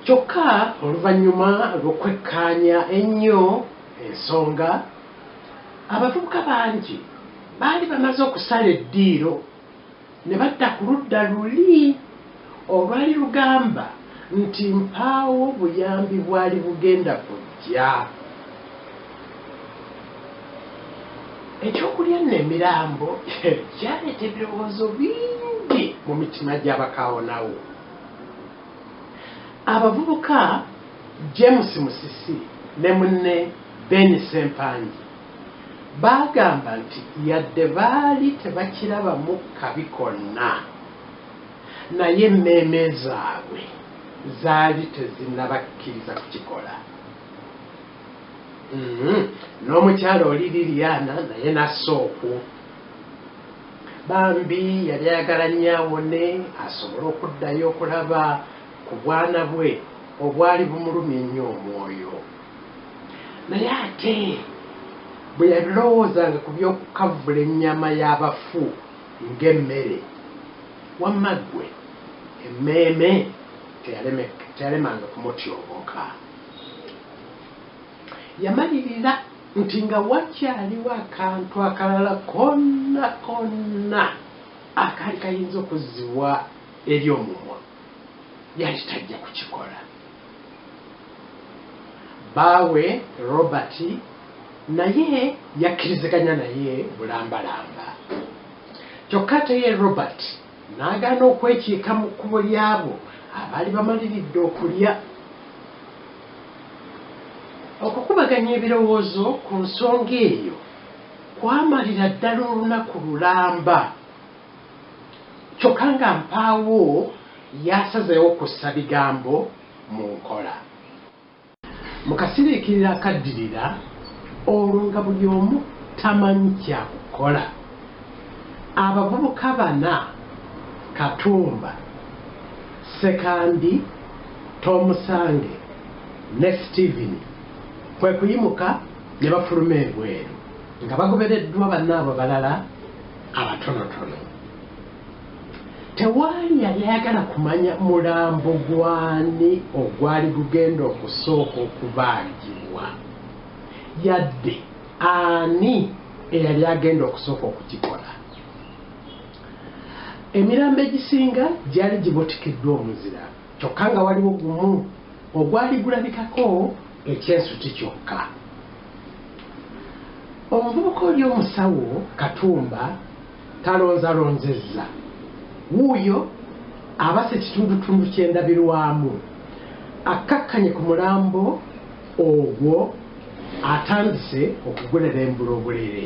kyokka oluvannyuma lw'okwekkaanya ennyo ensonga abavubuka bangi baali bamaze okusala eddiiro ne badda ku ludda luli. Olwa Lugamba nti mpaawo buyambi bwali bugenda kujja, eky'okulya nno emirambo kyaleeta ebirowoozo bingi mu mitima gy'abakaawonawo. Abavubuka James Musisi ne munne Ben Sempangi baagamba nti yadde baali tebakirabamu kabi konna, Naye emmeeme zaabwe zaali tezinnabakkiriza kukikola. Mm-hmm. N'omukyala oli Liliana naye n'assa okwo. Bambi yali ayagala nnyo awone asobole okuddayo okulaba ku bwana bwe obwali bumulumya ennyo omwoyo. Naye ate bwe yalowoozanga ku by'okukavvula ennyama y'abafu, ng'emmere. Wamma ggwe emmeeme teyalemanga kumutyobooka. Yamalirira nti nga wakyaliwo akantu akalala konna konna akaali kayinza okuzzibwa eri omumwa, yali tajja kukikola. Bbaawe Robert naye yakkiriziganya naye bulambalamba. Kyokka ate ye Robert n'agaana okwekiika mu kkubo ly'abo abaali bamaliridde okulya. Okukubaganya ebirowoozo ku nsonga eyo kwamalira ddala olunaku lulamba. Kyokka nga mpaawo yasazeewo kussa bigambo mu nkola. Mu kasiriikiriro akaddirira olwo nga buli omu tamanyi kya kukola, abavubuka bana, Katumba, Ssekandi, Tomusange ne Steven kwe kuyimuka ne bafuluma ebweru nga bagobereddwa bannaabwe abalala. abatonotono tewaali yali ayagala kumanya mulambo gwani ogwali gugenda okusooka okubaagibwa yadde ani eyali agenda okusooka okukikola emirambo egisinga gyali gibutikiddwa omuzira kyokka nga waliwo gumu ogwali gulabikako ekyensuti kyokka Omuvubuka oli omusawo Katumba talonzalonzezza. Wuuyo abase kitundutundu ky'endabirwamu akkakkanye ku mulambo ogwo atandise okugulelembula obulele.